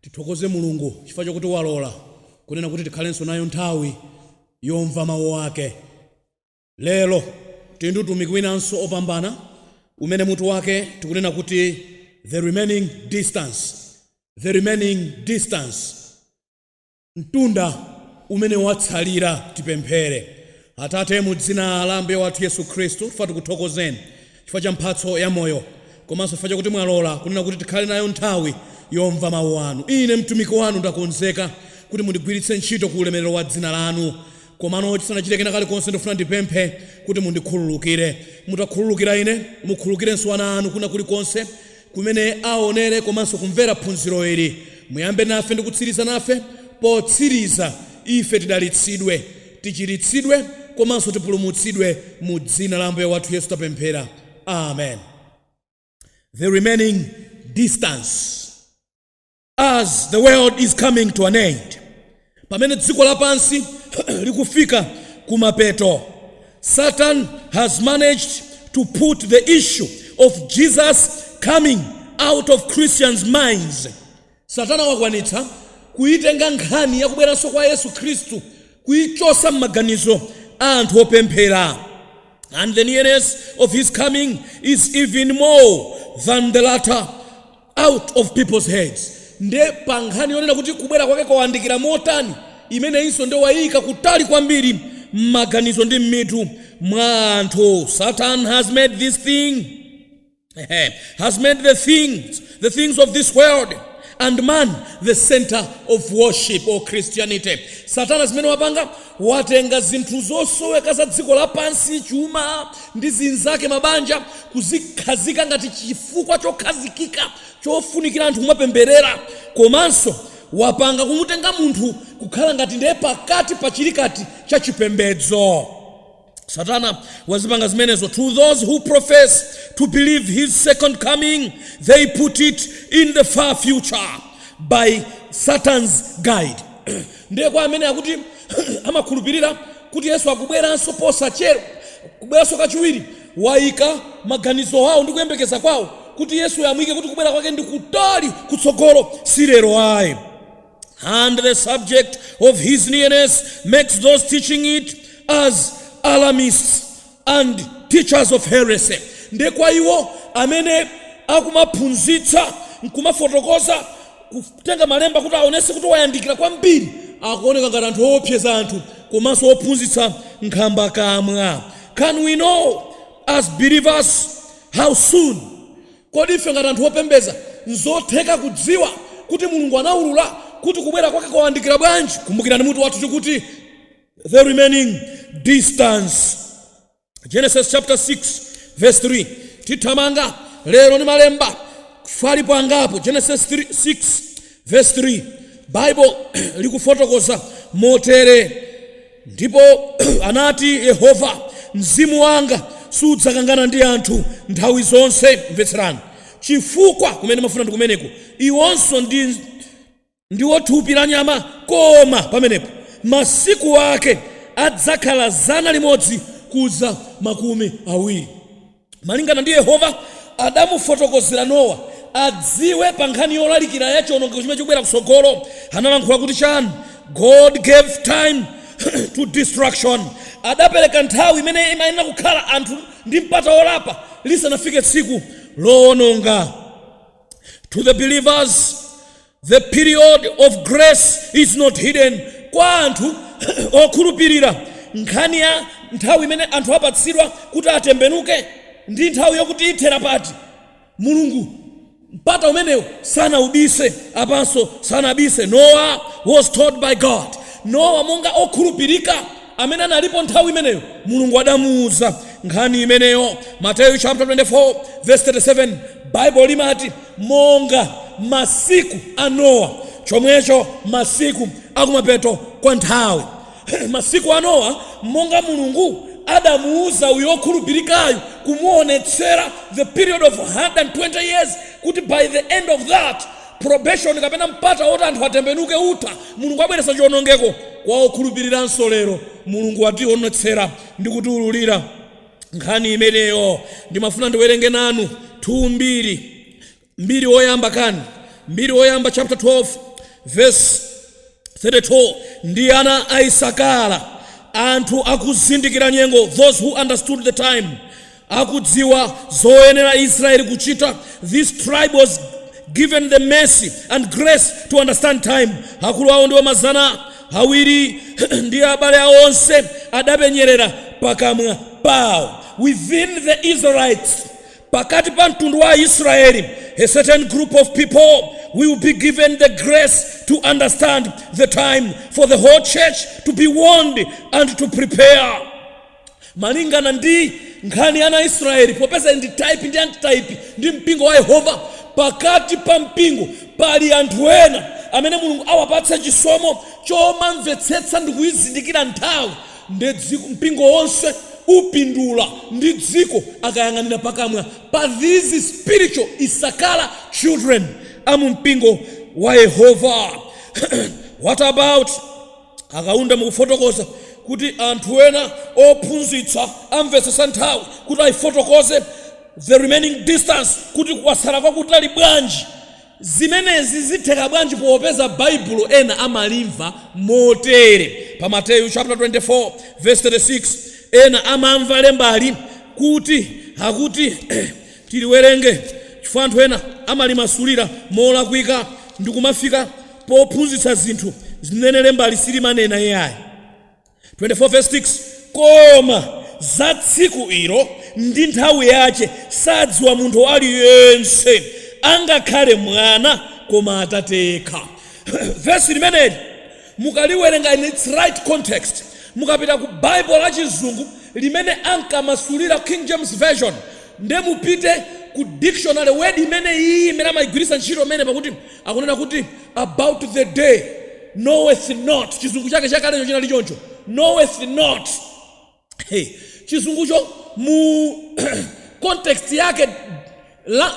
Tithokoze Mulungu chifukwa chakuti walola kunena kuti tikhalenso nayo nthawi yomva mawu ake. Lero tili ndi utumiki winanso opambana umene mutu wake tikunena kuti The Remaining Distance, The Remaining Distance. mtunda umene watsalira. Tipemphere. Atate, mu dzina la Ambuye wathu Yesu Khristu, tikufuna tikuthokozeni chifukwa cha mphatso ya moyo, komanso chifukwa chakuti mwalola kunena kuti tikhale nayo nthawi yomva Mawu anu. Ine mtumiki wanu ndakonzeka kuti mundigwiritse ntchito ku ulemerero wa dzina lanu. Komano chisanachite kena kalikonse, ndifuna ndipemphe kuti mundikhululukire. Mutakhululukira ine, mukhululukirenso ana anu kwina kulikonse kumene aonere komanso kumvera phunziro ili. Muyambe nafe ndi kutsiriza nafe. Potsiriza, ife tidalitsidwe, tichiritsidwe, komanso tipulumutsidwe mu Dzina la Ambuye wathu Yesu tapemphera. Amen. The remaining distance. as the world is coming to an end pamene dziko lapansi likufika kumapeto satan has managed to put the issue of jesus coming out of christians minds satana wakwanitsa kuitenga nkhani yakubweranso kwa yesu khristu kuichotsa m'maganizo a anthu opemphera and the nearness of his coming is even more than the latter out of people's heads nde pa nkhani yonena kuti kubwera kwake kwawandikira motani imeneyinso nde waiika kutali kwambiri mmaganizo ndi mmitu mwa anthu satan has made this thing has made the things of this world and man the center of worship or christianity satana zimene wapanga Watenga zinthu zosoweka za dziko lapansi, chuma ndi zinzake, mabanja, kuzikhazika ngati chifukwa chokhazikika chofunikira anthu kumapempherera. Komanso wapanga kumutenga munthu kukhala ngati ndiye pakati pa chilikati cha chipembedzo. Satana wazipanga zimenezo to those who profess to believe his second coming they put it in the far future by satan's guide ndiye kwa amene akuti amakhulupirira kuti yesu akubweranso posachedwa kubweranso kachiwiri waika maganizo awo ndi kuyembekeza kwawo kuti yesu amuike kuti kubwera kwake ndi kutali kutsogolo si lero ayi And the subject of his nearness makes those teaching it as alarmists and teachers of heresy. Nde kwa iwo amene akumaphunzitsa nkumafotokoza kutenga malemba kuti aonetse kuti wayandikira kwambiri akuoneka ngati anthu oopseza anthu komanso ophunzitsa nkhambakamwa. Can we know as believers how soon Kodi ife ngati anthu opembedza, n'zotheka kudziwa kuti Mulungu anaulula kuti kubwera kwake kwayandikira bwanji? Kumbukirani mutu wathu tikuti The Remaining Distance. Genesis chapter 6 verse 3 tithamanga lero ndi malemba chifukwa alipo angapo. Genesis 6 verse 3 Bible likufotokoza motere. Ndipo anati Yehova, Mzimu wanga sudzakangana ndi anthu nthawi zonse, mvetserani, chifukwa kumene mafuna ndi kumeneko, iwonso ndiwo thupi la nyama, koma pamenepo masiku ake adzakhala zana limodzi kudza makumi awiri. malingana ndi Yehova adamufotokozera Nowa adziwe pa nkhani yolalikira ya chionongeko chimene chikubwera kutsogolo, analankhula kuti chani? God gave time to destruction. Adapereka nthawi imene imayenera kukhala anthu ndi mpata wolapa lisanafike tsiku lowononga. To the believers, The period of grace is not hidden. Kwa anthu okhulupirira, nkhani ya nthawi imene anthu apatsidwa kuti atembenuke ndi nthawi yokuti ithera pati, Mulungu mpata umenewo sanaubise, apanso sanabise. Noah was told by God. Nowa monga okhulupirika amene analipo nthawi imeneyo, Mulungu adamuuza nkhani imeneyo. Mateyu chaputala 24 vesi 37 Baibulo limati, Monga masiku a Nowa, chomwecho masiku akumapeto kwa nthawi. Masiku a Nowa, monga Mulungu adamuuza uyo okhulupirikayu kumuonetsera the period of 120 years kuti by the end of that, Probation kapena mpata woti anthu atembenuke utha, Mulungu abweretsa chionongeko kwa okhulupiliranso lero. Mulungu wationetsera ndi kutiululira nkhani imeneyo. Ndimafuna ndiwerenge nanu 2 Mbiri, Mbiri Woyamba kani, Mbiri Woyamba chaputala 12 vesi 32 Ndi ana a Isakara, anthu akuzindikira nyengo, those who understood the time, akudziwa zoyenera Israeli kuchita, this tribe was given the mercy and grace to understand time. Akulu awo ndiwo mazana awiri ndi abale awo onse adapenyerera pakamwa pawo. Within the Israelites, pakati pa mtundu wa Israeli, a certain group of people will be given the grace to understand the time for the whole church to be warned and to prepare. Malingana ndi nkhani ya ana a Israyeli, popeza ndi type ndi antitype ndi mpingo wa Yehova, pakati pa mpingo pali anthu ena amene Mulungu awapatsa chisomo chomamvetsetsa ndikuizindikira nthawi, nde dziko, mpingo wonse upindula ndi dziko akayang'anira pakamwa pa these spiritual Issachara children a mu mpingo wa Yehova. What about. Akaunda mukufotokoza kuti anthu ena ophunzitsa amvetsetsa nthawi kuti aifotokoze the remaining distance kuti kwatsala kwakutali bwanji. Zimenezi zitheka bwanji popeza Baibulo ena amalimva motere pa Mateyu chaputala 24 vesi 36 ena amamva lembali kuti akuti tiliwerenge chifukwa anthu ena amalimasulira molakwika ndikumafika pophunzitsa zinthu zimene lembali silimanena iyayi. 24 verse 6 koma za tsiku ilo ndi nthawi yache sadziwa munthu aliyense angakhale mwana koma atate yekha vesi limeneli mukaliwerenga in its right context mukapita ku bible la chizungu limene ankamasulira king james version nde mupite ku dictionary word imene iyi imene amayigwiritsa ntchito imene pakuti Akunena kuti, About the day, knoweth not. Chizungu chake chakalecho chinali choncho. Knoweth not. Chizungucho mu context yake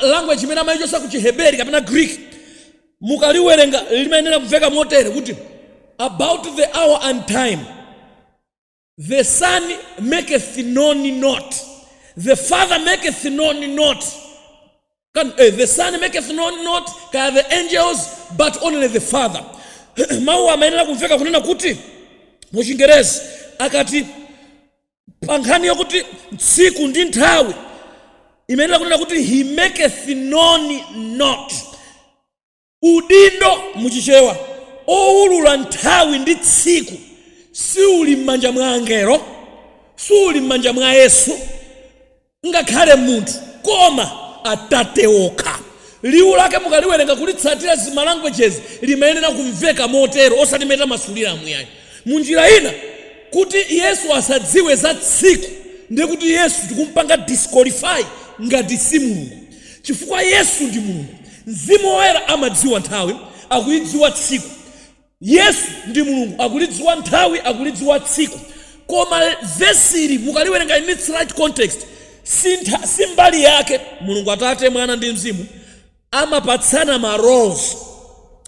language imene amaichotsa ku chiheberi kapena greek mukaliwerenga limayenera kumveka motere kuti about the hour and time The son maketh known not. The father maketh known not. Can, eh, the son maketh known not kaya the angels but only the father. Mawu amayenera kumveka kunena kuti mu Chingerezi akati pa nkhani yokuti tsiku ndi nthawi imayenera kunena kuti he maketh known not Udindo, mu Chichewa, owulula nthawi ndi tsiku siuli m'manja mwa angelo, suuli m'manja mwa Yesu, ngakhale munthu, koma Atate okha. Liwu lake mukaliwerenga kulitsatira zima languages limayenera kumveka motero osati mmene amasuliramu iyayi. Munjira ina, kuti Yesu asadziwe za tsiku ndiye kuti Yesu tikumpanga disqualify ngati si Mulungu. Chifukwa Yesu ndi Mulungu. Mzimu Woyera amadziwa nthawi, akulidziwa tsiku. Yesu ndi Mulungu akulidziwa nthawi, akulidziwa tsiku. Koma vesi ili mukaliwerenga in its right context, si ntha, si mbali yake. Mulungu Atate, Mwana ndi Mzimu amapatsana ma roles.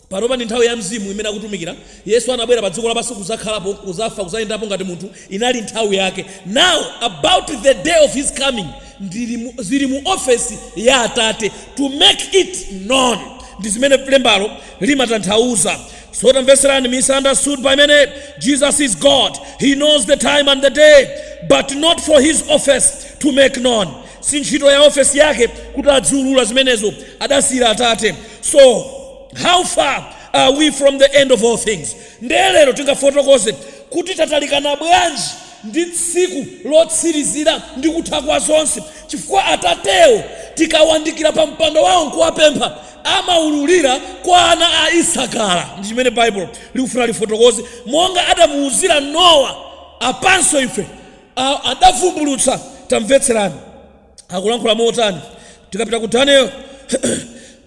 Panopa ndi nthawi ya Mzimu imene akutumikira. Yesu anabwera padziko lapansi kudzakhalapo, kudzafa, kudzayendapo ngati munthu. Inali nthawi yake. Now about the day of his coming ndili mu, zili mu ofesi ya Atate to make it known. Ndi zimene lembalo limatanthauza. So tamvetserani, misunderstood by many. Jesus is God. He knows the time and the day, but not for his office to make known. Si ntchito ya ofesi yake kuti adziulula zimenezo. Adasiyira Atate. so how far are we from the end of all things nde lero tingafotokoze kuti tatalikana bwanji ndi tsiku lotsirizira ndi kutha kwa zonse chifukwa atatewo tikawandikira pa mpando wawo nkuwapempha amaululira kwa ana a isakara ndi chimene baibulo likufuna lifotokoze monga adamuwuzira nowa apanso ife a- adavumbulutsa tamvetserani akulankhula motani tikapita ku daniel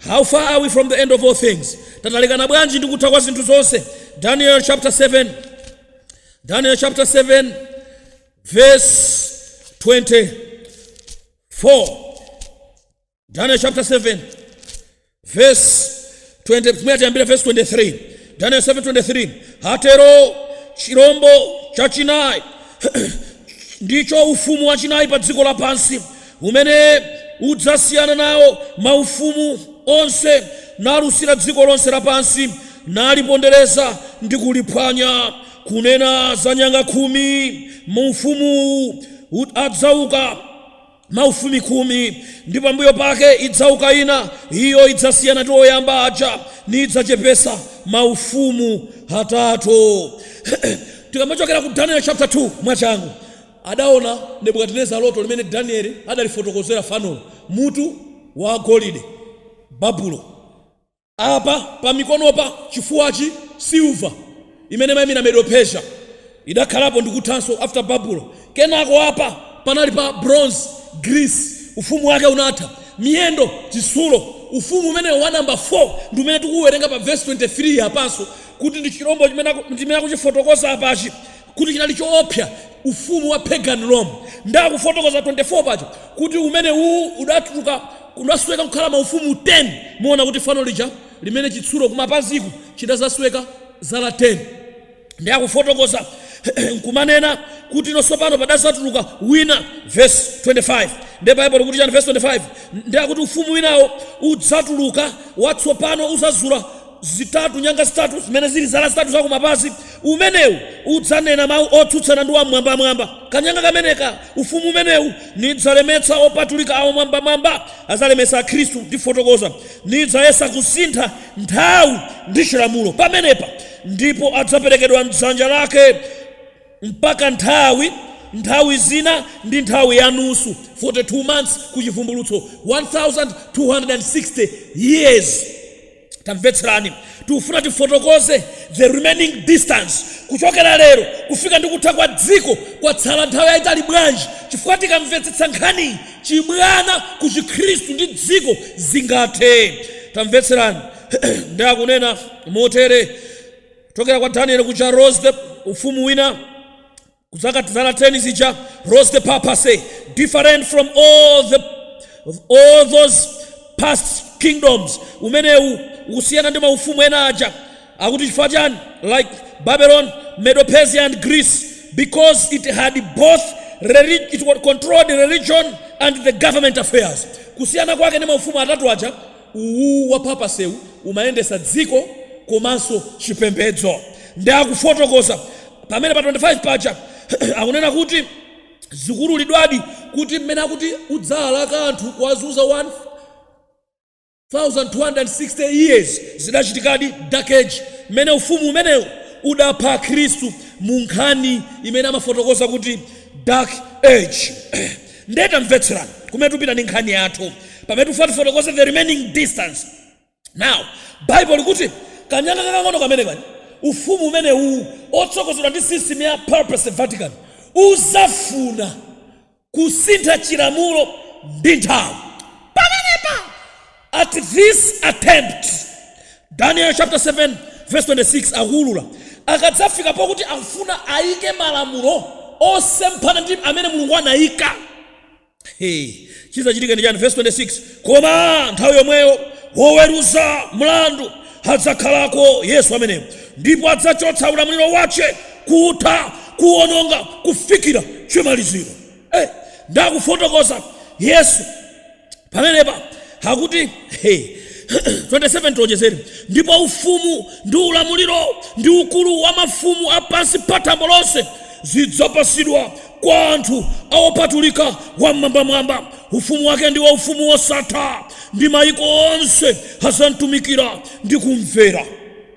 how far are we from the end of all things tatalekana bwanji ndi kutha kwa zinthu zonse daniel chapter 7 daniel chapter 7 verse 24 daniel chapter 7 vesi 20 pamene tiyambira vesi 23 daniel 7:23 atero chirombo chachinayi ndicho ufumu wachinayi pa dziko lapansi umene udzasiyana nawo maufumu onse nalusira dziko lonse lapansi nalipondereza ndi kuliphwanya kunena za nyanga khumi mu ufumuwu ud- adzauka maufumu khumi, ndi pambuyo pake idzauka ina, iyo idzasiyana ndi oyamba aja, niidzachepesa maufumu atatu. Tikamachokera ku Daniel chapter 2 mwachangu, adaona Nebukadineza loto limene Danieli adalifotokozera fanolo, mutu wa golide, Babulo. Apa pa mikonopa, chifuwachi, silver imene imayimira Medo Persia idakhalapo ndikuthanso after Babulo. Kenako apa panali pa bronze, Greece ufumu wake unatha. Miyendo, chitsulo, ufumu umene wa number 4 ndi umene tikuwuwerenga pa verse 23 apanso kuti ndi chilombo chimene akuchifotokoza apachi kuti chinali choopsa ufumu wa Pagan Rome. Nde akufotokoza 24 paja kuti umenewu udatuluka udasweka kukhala maufumu 10. Muona kuti fano lija limene chitsulo kumapaziku chidadzasweka zala 10. Nde akufotokoza n'kumanena kuti no tsopano padadzatuluka wina vesi 25. Nde Baibulo likuti chani vesi 25? Nde akuti ufumu winawo udzatuluka watsopano udzazula zitatu, nyanga zitatu zimene zili zala zitatu za kumapazi, umenewu udzanena mawu otsutsana ndi Wam'mwambamwamba. Kanyanga kameneka, ufumu umenewu, nidzalemetsa opatulika a Wam'mwambamwamba, adzalemetsa Akhristu, ndifotokoza, nidzayesa kusintha nthawi ndi chilamulo pamenepa, ndipo adzaperekedwa m'dzanja lake mpaka nthawi, nthawi zina ndi nthawi ya nusu, 42 months ku Chivumbulutso, 1260 years. Tamvetserani, tikufuna tifotokoze the remaining distance kuchokera lero kufika ndi kutha kwa dziko kwatsala nthawi yaitali bwanji, chifukwa tikamvetsetsa nkhaniyi chibwana ku Chikhristu ndi dziko zingathe. Tamvetserani, ndiye akunena motere kuchokera kwa Danieli kuja rose the ufumu wina, kuzaka zala 10 zija rose the papacy different from all the all those past kingdoms umenewu usiyana ndi maufumu ena aja akuti chifukwa chani like babylon medo persia and greece because it had both relig- it controlled religion and the government affairs kusiyana kwake ndi maufumu atatu aja uwu wa papacy-wu umayendesa dziko komanso chipembedzo nde akufotokoza pamene pa 25 paja akunena kuti zikuululidwadi kuti mmene akuti udzaalaka anthu kuwazunza 1260 years zidachitikadi dark age mmene ufumu umenewu udapha akhristu mu nkhani imene amafotokoza kuti dark age Nde tamvetserani kumene tupita ndi nkhani yathu pamene tifuna tifotokoze the remaining distance. Now, Bible likuti kanyanga kakang'ono kameneka, ufumu umenewu otsogozedwa ndi system ya papacy Vatican udzafuna kusintha chilamulo ndi nthawi. Pamenepa. At this attempt, Daniel chapter 7 verse 26 akuwulula, akadzafika pokuti akufuna ayike malamulo osemphana ndi amene Mulungu anayika, he, chidzachitika ndi chiyani? Vesi 26, koma nthawi yomweyo woweruza mlandu adzakhalako, Yesu ameneyo, ndipo adzachotsa ulamuliro wache, kutha, kuwononga, kufikira chimaliziro. Hey, ndi akufotokoza Yesu. pamenepa akuti hey, 27 tiwonjezere ndipo ufumu ndi ulamuliro ndi ukulu wa mafumu a pansi pa thambo lonse zidzapasidwa kwa anthu aopatulika wam'mwambamwamba ufumu wake ndiwo ufumu wosatha ndi mayiko onse azamtumikira ndi kumvera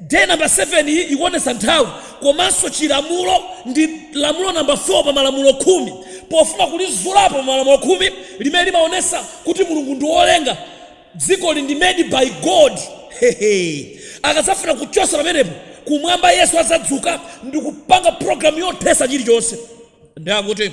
Day Number 7 iyi ikuonetsa nthawi komanso chilamulo ndi lamulo number 4 pa malamulo khumi pofuna kulizulapo pa malamulo khumi limene limaonesa kuti Mulungu ndi wolenga dzikoli ndi made by God hehe akadzafuna kuchosa pamenepo kumwamba Yesu adzadzuka ndikupanga program yothesa chilichonse nde akuti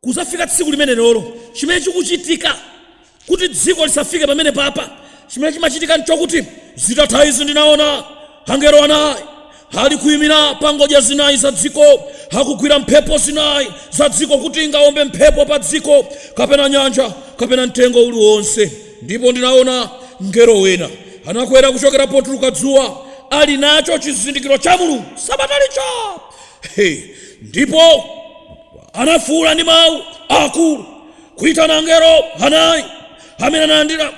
Kuzafika tsiku limenelolo, chimene chikuchitika kuti dziko lisafike pamenepapa, chimene chimachitika nchokuti zitatha izi ndinaona angelo anayi ali kuimira pa ngodya zinayi za dziko, akugwira mphepo zinayi za dziko kuti ingawombe mphepo pa dziko, kapena nyanja, kapena mtengo uli wonse. Ndipo ndinaona mngelo wina anakwera kuchokera potuluka dzuwa, ali nacho chizindikiro cha Mulungu sabata lija. He, ndipo. anafuula ndi mawu akulu kuitana angelo anayi amene analandira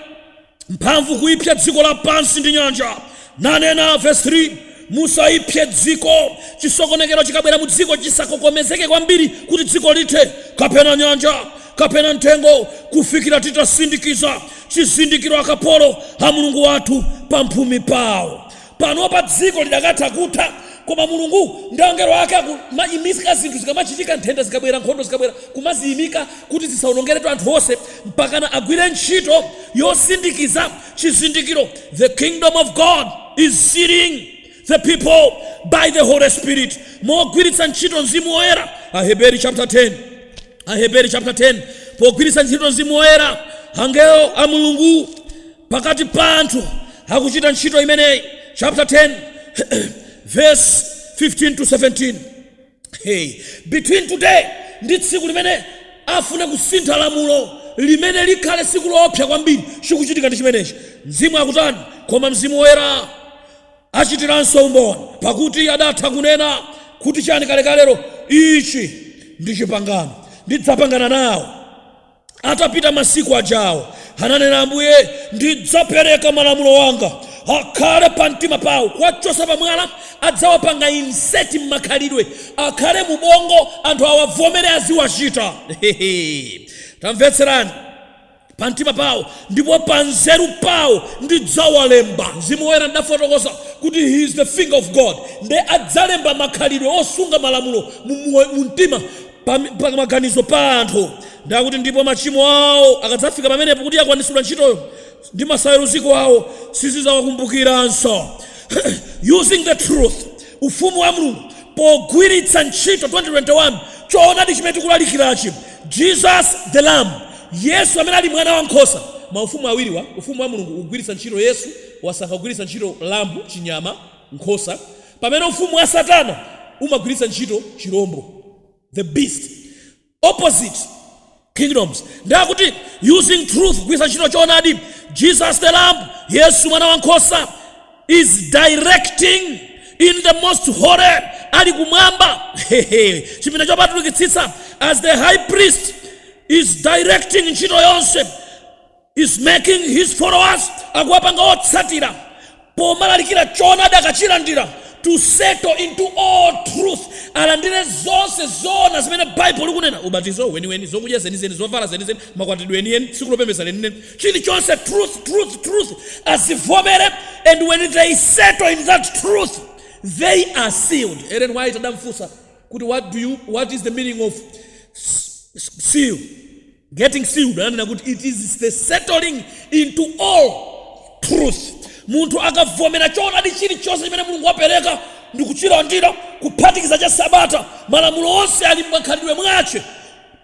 mphamvu kuipsa dziko lapansi ndi nyanja nanena vesi 3 musaipse dziko chisokonekero chikabwera mu dziko chisakokomezeke kwambiri kuti dziko lithe kapena nyanja kapena mtengo kufikira titasindikiza chizindikiro akapolo a mulungu wathu pamphumi pawo Panopa dziko lidakatha kutha, koma Mulungu ndi angelo ake akumaimika zinthu zikamachitika, nthenda zikabwera, nkhondo zikabwera, kumaziimika kuti zisaonongeretu anthu onse, mpakana agwire ntchito yosindikiza chizindikiro The Kingdom of God is sealing the people by the Holy Spirit mogwiritsa ntchito Mzimu Woyera, Aheberi chapter 10. Aheberi chapter 10. Pogwiritsa ntchito Mzimu Woyera, angelo a Mulungu pakati pa anthu akuchita ntchito imeneyi chapter 10 verse 15 to 17 hey, between today ndi tsiku limene afune kusintha lamulo limene likhale tsiku loopsa kwambiri chikuchitika ndi chimenechi mzimu akutani koma mzimu woyera achitiranso umboni pakuti adatha kunena kuti chani kalekalero ichi ndi chipangano ndidzapangana nawo Atapita masiku ajawo, ananena Ambuye, ndidzapereka malamulo anga akhale pa mtima pawo, kuwachosa pa mwala, adzawapanga insert mmakhalidwe, akhale mu ubongo, anthu awavomere aziwachita. Hehe! Tamvetserani! pa mtima pawo, ndipo pa nzeru pawo ndidzawalemba. Mzimu Woyera ndidafotokoza kuti he is the finger of God, nde adzalemba makhalidwe osunga malamulo mu, mu, mu mtima pa, pa maganizo pa anthu nde akuti ndipo machimo awo akadzafika pamenepo kuti yakwanitsidwa ntchitoyo ndi masayeruziko awo sindidzawakumbukiranso using the truth ufumu wa mulungu pogwiritsa ntchito 2021 choonadi chimene tikulalikirachi jesus the lamb yesu amene ali mwana wa nkhosa maufumu awiriwa ufumu wa mulungu ukugwiritsa ntchito yesu wasankha kugwiritsa ntchito lambu chinyama nkhosa Pamene ufumu wa Satana umagwiritsa ntchito chirombo, the beast, opposite kingdoms, nde akuti using truth kugwiritsa ntchito choonadi, Jesus the Lamb, Yesu mwana wa nkhosa, is directing in the most holy, ali kumwamba chipinda chopatulikitsitsa, as the high priest is directing ntchito yonse is making his followers akuwapanga otsatira pomalalikira choonadi akachilandira to settle into all truth alandire zonse zoona zimene baibulo likunena ubatizo weniweni zokudya zenizeni zovala zenizeni makwatidwe enieni tsiku lopembedza lenileni chilichonse truth truth truth azivomere and when they settle in that truth they are sealed Ellen White adamfunsa kuti what, do you, what is the meaning of s- s- seal Getting sealed ananena kuti it is the settling into all truth. Munthu akavomera choonadi chilichonse chimene Mulungu wapereka ndi kuchilandira, kuphatikiza cha Sabata, malamulo onse ali m'makhalidwe mwake,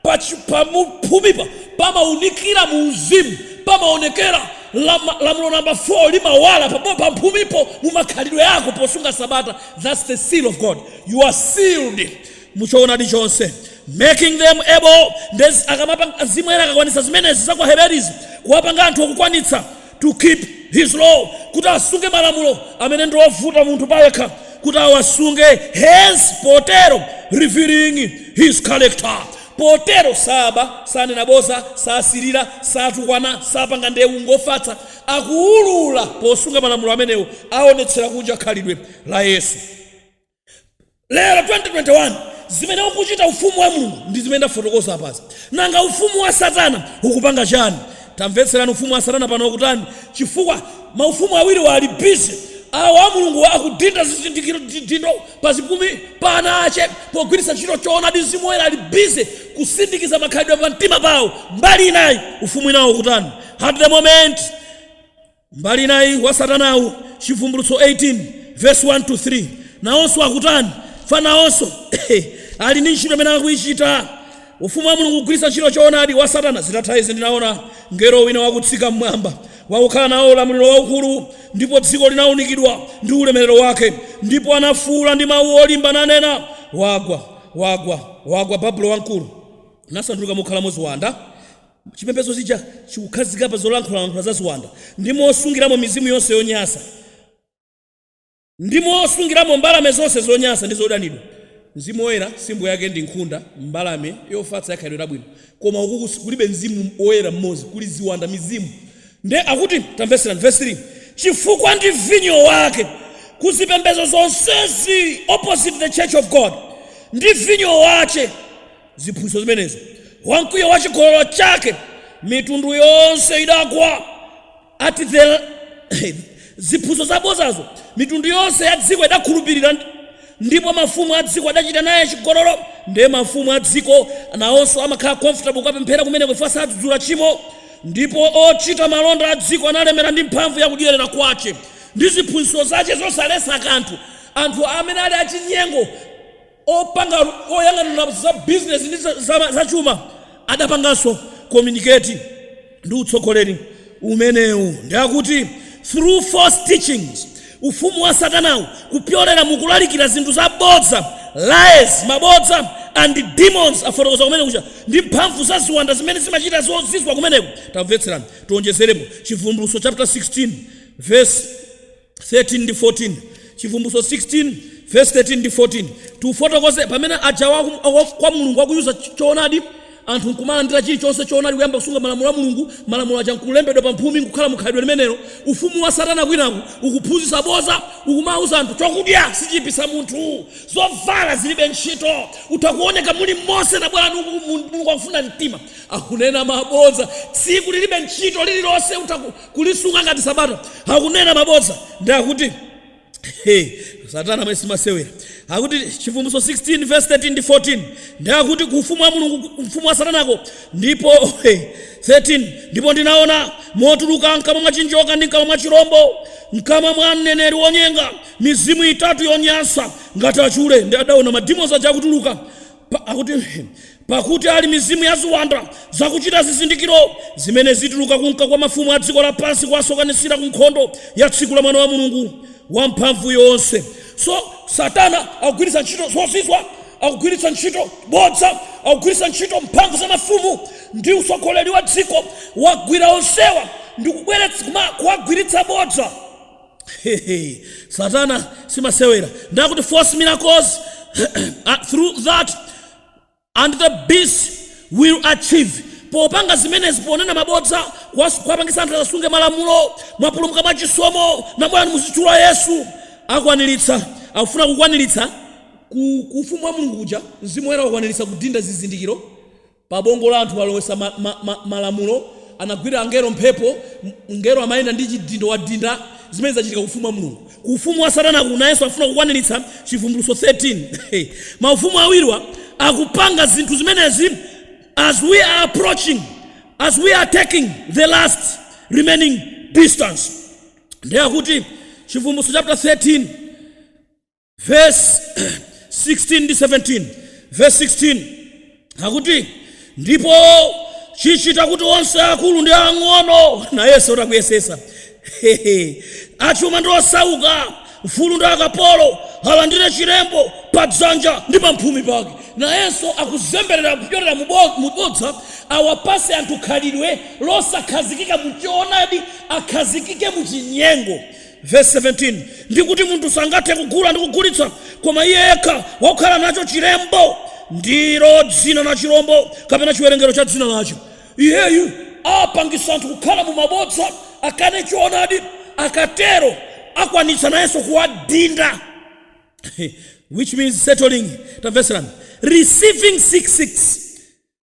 pa chi- pa mu- phumipa pamaunikira mu uzimu, pamaonekera lama- lamulo namba 4 limawala pamo- pamphumipo mu makhalidwe ako posunga Sabata. That's the seal of God. You are sealed. mu choonadi chonse, making them able, nde zi- akamapanga mzimu woyera akakwanitsa zimenezi za kwa Aheberizi, kuwapanga anthu okukwanitsa to keep his law, kuti asunge malamulo amene ndi ovuta munthu payekha kuti awasunge, hence potero revealing his character potero saba sanena boza sasirira satukwana sapanga ndewu ngofatsa akuwulula posunga malamulo amenewo aonetsera kunja khalidwe la yesu Lero 2021 zimene ukuchita ufumu wa Mulungu ndi zimene ndafotokoza apazi. Nanga ufumu wa Satana ukupanga chani? Tamvetserani ufumu wa Satana pano ukutani chifukwa maufumu awiriwa ali busy awa a Mulungu akudinda zizindikiro chidindo pa zipumi pa ana ache pogwiritsa ntchito choonadi Mzimu Woyera ali busy kusindikiza makhalidwe pa mtima pao mbali inayi ufumu winawo ukutani at the moment? mbali inayi wa satanawu chivumbulutso 18 verse 1 to 3 nawonso akutani chifukwa nawonso ali ndi ntchito imene akuyichita ufumu wa mulungu ukugwiritsa ntchito choonadi wa satana zitatha izi ndinaona mngelo wina wakutsika mmwamba wakukhala nawo ulamuliro waukulu ndipo dziko linaunikidwa ndi ulemerero wake ndipo anafuwula ndi mawu olimba nanena wagwa wagwa wagwa babulo wamkulu nasanduka mokhalamo ziwanda Chipembedzo chija chikukhazikika pa zolankhulalankhula za ziwanda, ndi mosungiramo mizimu yonse yonyansa, ndi mosungiramo mbalame zonse zonyansa ndi zodanidwa. Mzimu Woyera, simbo yake ndi nkhunda, mbalame yofatsa ya khalidwe labwino. Koma uku kus, kulibe Mzimu Woyera mmodzi, kuli ziwanda, mizimu. Ndiye akuti, tamvetserani, vesi 3, Chifukwa ndi vinyo wake, ku zipembedzo zonsezi, opposite the church of God, ndi vinyo wache, ziphunzitso zimenezo. Wa mkwiyo wa chigololo chake mitundu yonse idagwa. Ati the ziphunzitso zabodzazo mitundu yonse ya dziko idakhulupirira, ndi- ndipo mafumu a dziko adachita naye chigololo. Ndiye mafumu a dziko nawonso amakhala comfortable kukapemphera kumeneko chifukwa sadzudzula tchimo, ndipo ochita malonda a dziko analemera ndi mphamvu ya kudyerera kwache ndi ziphunzitso zache zosaletsa kanthu. Anthu amene ali achinyengo Opanga, oyang'anira za bizinesi ndi za za chuma adapanganso communicate ndi utsogoleri umenewu ndiye akuti through false teachings ufumu wa Satanawu kupyolera mu kulalikira zinthu zabodza lies mabodza and demons afotokoza kumene kuja ndi mphamvu za ziwanda zimene zimachita zozizwa kumeneko. Tamvetserani tiwonjezerepo Chivumbulutso chaputala 16 vesi 13 ndi 14 chivumbulutso 16 verse 13 ndi 14 tiufotokoze pamene aja waku- wa- kwa mulungu akuuza choonadi anthu nkumalandira chilichonse choonadi kuyamba kusunga malamulo a mulungu malamulo aja nkulembedwa pa mphumi nkukhala mukhalidwe limenelo ufumu wa satana kwinaku ukuphunzitsa bodza ukumauza anthu chakudya sichiipitsa munthu zovala zilibe ntchito utha kuoneka mulimonse tabwerani uku mulungu akufuna mtima akunena mabodza tsiku lilibe ntchito lililonse utha ku- kulisunga ngati sabata akunena mabodza ndi akuti Hey, satana si masewera akuti chivumbulutso 16 verse 13 ndi 14 ndi akuti ku ufumu wa mulungu ufumu wa satanako ndipo hey, 13 ndipo ndinaona motuluka mkamwa mwa chinjoka ndi mkamwa mwa chirombo mkamwa mwa mneneri wonyenga mizimu itatu yonyansa ngati achule nde adaona mademons aja akutuluka Pa- akuti pakuti ali mizimu ya ziwanda zakuchita zizindikiro zimene zituluka kunka kwa mafumu a dziko lapansi kuwasonkhanitsira ku nkhondo ya tsiku la mwana wa mulungu wamphamvu yonse so satana akugwiritsa ntchito zozizwa akugwiritsa ntchito bodza akugwiritsa ntchito mphamvu za mafumu ndi utsogoleri wa dziko wagwira onsewa ndi kubweretsa kuma- kuwagwiritsa bodza Hehe, satana simasewera ndakuti false miracles uh, through that and the beast will achieve popanga zimenezi ponena mabodza kuwas- kuwapangisa anthu asasunge malamulo mwapulumuka mwa chisomo nabwerani muzitchula yesu akwaniritsa akufuna kukwaniritsa ku ku ufumu wa mulungu kuja mzimu woyera wakwaniritsa kudinda zizindikiro Pa ubongo la anthu walowesa ma, ma, ma, malamulo, anagwira angelo mphepo, m, mngelo amayenda ndi chidindo wadinda, zimene zachitika ku ufumu wa Mulungu. Ku ufumu wa satanaku nayenso akufuna kukwanilitsa Chivumbulutso 13. Ma ufumu awiriwa akupanga zinthu zimenezi as we are approaching, as we are taking the last remaining distance. Nde akuti Chivumbulutso chapter 13. verse 16 ndi 17 verse 16 akuti ndipo chichita kuti onse akulu ndi ang'ono nayenso akuyesesa achuma ndi osauka mfulu ndi akapolo alandire chilembo pa dzanja ndi pa mphumi pake nayenso akuzemberera kupyolera mubo- mubodza awapase anthu khalidwe losakhazikika muchoonadi akhazikike muchinyengo Vesi 17, Ndi kuti munthu sangathe kugula ndi kugulitsa, koma iye yekha wakukhala nacho chilembo, ndilo dzina la chilombo, kapena chiwerengero cha dzina lacho. Iyeyu apangitsa anthu kukhala mu mabodza, akane choonadi, akatero akwanitsa nayenso kuwadinda. Which means settling, tamvetserani, receiving 6 6.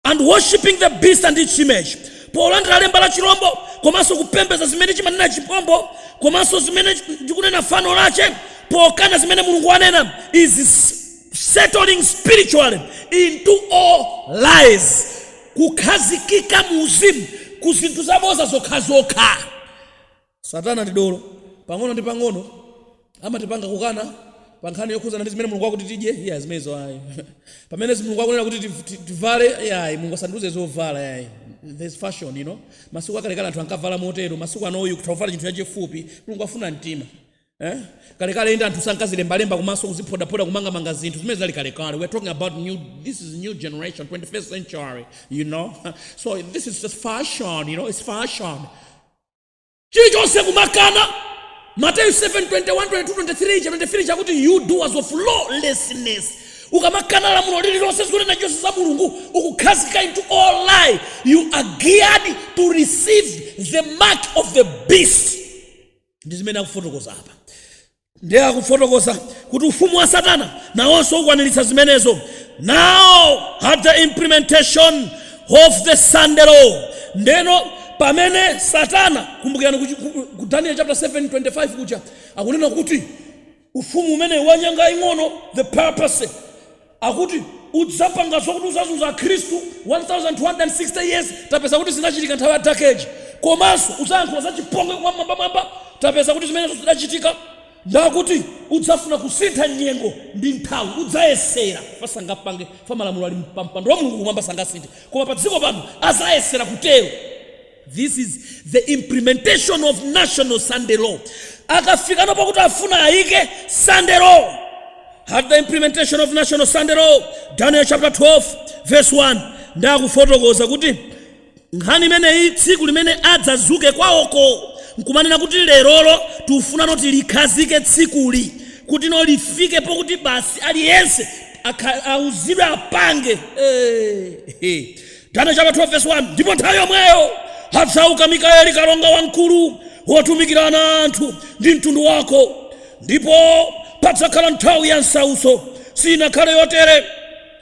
and worshiping the beast and its image polandira lemba la chirombo komanso kupembeza zimene chimanena chirombo komanso zimene likunena fano lache pokana zimene mulungu wanena is s- settling spiritually into all lies kukhazikika mu uzimu ku zinthu zaboza zokhazokha Satana ndi dolo. Pang'ono ndi pang'ono amatipanga kukana pa nkhani yokhudzana ndi zimene Mulungu akuti tidye, iyayi zimenezo ayi. Pamene Mulungu akunena kuti tiv- ti- tivale, iyayi Mulungu asandiuze zovala iyayi. There's fashion, you know. Masiku akalekale anthu ankavala motero, masiku ano utha kuvala chinthu chachifupi, Mulungu afuna mtima. Eh? Kalekale inde anthu sankazilembalemba kumaso kuziphodaphoda kumangamanga zinthu zimenezo zinali kalekale. We're talking about new this is new generation, 21st century, you know. So this is just fashion, you know, it's fashion. chilichonse kumakana mateyu 7 21 22 23 cha 23 chikuti you doers of lawlessness ukamakana lamulo lililonse zonena zonse za mulungu ukukhazika into all lie you are geared to receive the mark of the beast ndi zimene akufotokoza apa ndiye akufotokoza kuti ufumu wa satana nawonso ukwaniritsa zimenezo now at the implementation of the sunday law ndeno pamene satana kumbukirani kuchi- ku- ku daniel chapter 7 25 kuja akunena kuti ufumu umenewu wanyanga ing'ono the purpose Akuti udzapanga zokuti uzazunza akhristu 1260 years tapeza kuti zinachitika nthawi ya dark age komanso uzayankhula za chipongwe kwa wammwambamwamba tapeza kuti zimenezo zidachitika ndakuti udzafuna kusintha nyengo ndi nthawi udzayesera chifukwa sangapange chifukwa malamulo ali pampando wa mulungu kumwamba sangasinthe koma padziko pano azayesera kutero This is the implementation of national Sunday law. Akafikano pokuti afuna ayike Sunday law. At the implementation of national Sunday law, Daniel chapter 12 verse 1 ndakufotokoza kuti nkhani imeneyi tsiku limene adzazuke kwawoko nkumanena kuti lerolo tifuna noti likhazike tsikuli kuti no lifike pokuti basi aliyense akha- auzidwe apange Eh, eh. Daniel chapter 12 verse 1 ndipo nthawi yomweyo adzauka mikaeli kalonga wamkulu wotumikira ana a anthu a mtundu wako ndipo padzakhala nthawi ya msautso sinakhale yotere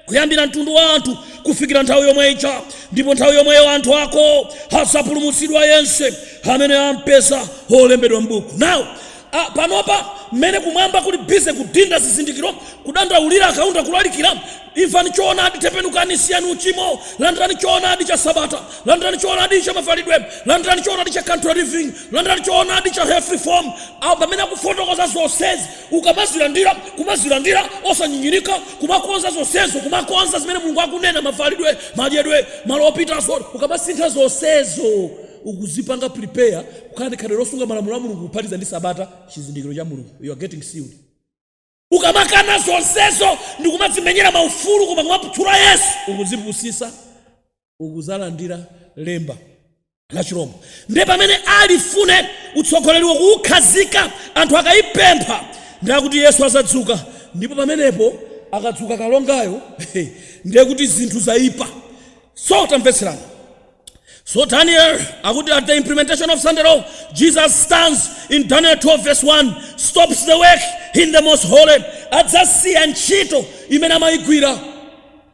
kuyambira mtundu wa anthu kufikira nthawi yomwe ija ndipo nthawi yomweyo anthu ako adzapulumutsidwa yense amene ampeza wolembedwa m'buku now a Panopa, mmene Kumwamba kuli busy kudinda zizindikiro, kudandaulira a Kaunda kulalikira, Imvani choonadi, tembenukani, siyani uchimo, landirani choonadi cha Sabata, landirani choonadi cha mavalidwe, landirani choonadi cha country living, landirani choonadi cha health reform, a Pamene akufotokoza zonsezi, ukamazilandira, kumazilandira osanyinyirika, kumakonza zonsezo, kumakonza zimene Mulungu akunena, mavalidwe, madyedwe, malo opita, zot, ukamasintha zonsezo, ukuzipanga prepare, Kukhala ndi khalidwe losunga malamulo a Mulungu kuphatiza ndi Sabata, chizindikiro cha Mulungu. You are getting sealed. Ukamakana zonsezo ndi kumadzimenyera ma ufulu koma kumaputsura Yesu, ukudzipusisa, ukudzalandira lemba la chirombo. Ndiye pamene alifune utsogoleriwo kuyikhazika anthu akaipempha ndiye akuti Yesu azadzuka ndipo pamenepo akadzuka kalongayo ndiye kuti zinthu zaipa. So tamvetserani. So Daniel, akuti at the implementation of Sunday law, Jesus stands in Daniel 12 verse 1, stops the work in the most holy, adzasiya ntchito imene amayigwira.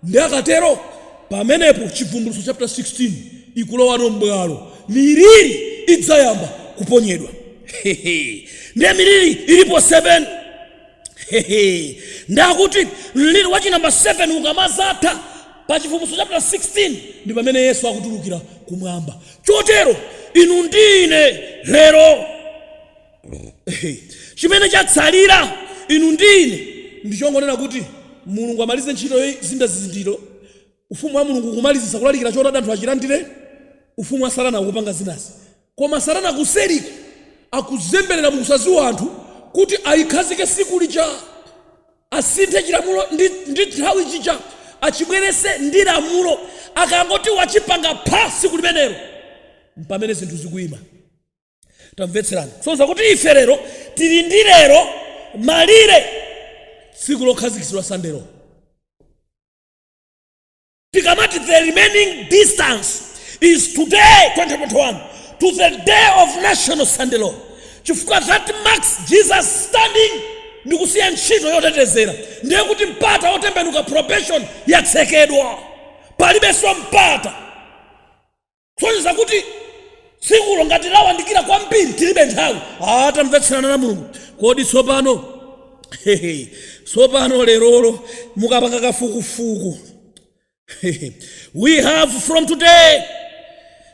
Ndiye akatero, pamenepo chivumbulutso chapter 16 ikulowano m'bwalo. Miliri idzayamba kuponyedwa. Hehe. Ndiye miliri ilipo 7. Hehe. Ndiye akuti mliri wa chinamba 7 ukamazatha Pa Chivumbulutso chapter 16 ndi pamene Yesu akutulukira kumwamba. Chotero inu ndi ine lero, chimene chatsalira inu ndi ine ndi chongonena kuti Mulungu amalize ntchito yodinda zizindikiro, Ufumu wa Mulungu kumalizitsa kulalikira Choonadi anthu achilandire, ufumu wa Satana ukupanga zinazi. Koma Satana kuseriko akuzemberera mu kusadziwa anthu kuti ayikhazike tsiku lija. asinthe chilamulo ndi nthawi chija achibweretse ndi lamulo akangoti wachipanga pha tsiku limenelo mpamene zinthu zikuyima tamvetserani kusonyeza kuti ife lero tili ndi lero malire tsiku lokhazikitsidwa sunday law tikamati the remaining distance is today 2021 to the day of national sunday law chifukwa that marks jesus standing ndi kusiya ntchito yotetezera ndiye kuti mpata wotembenuka probation yatsekedwa palibenso mpata kusonyeza kuti tsikulo ngati lawandikira kwambiri tilibe nthawi Ah, tamvetserani ana a mulungu kodi tsopano hehe, tsopano lerolo mukapanga kafukufuku hehe, we have from today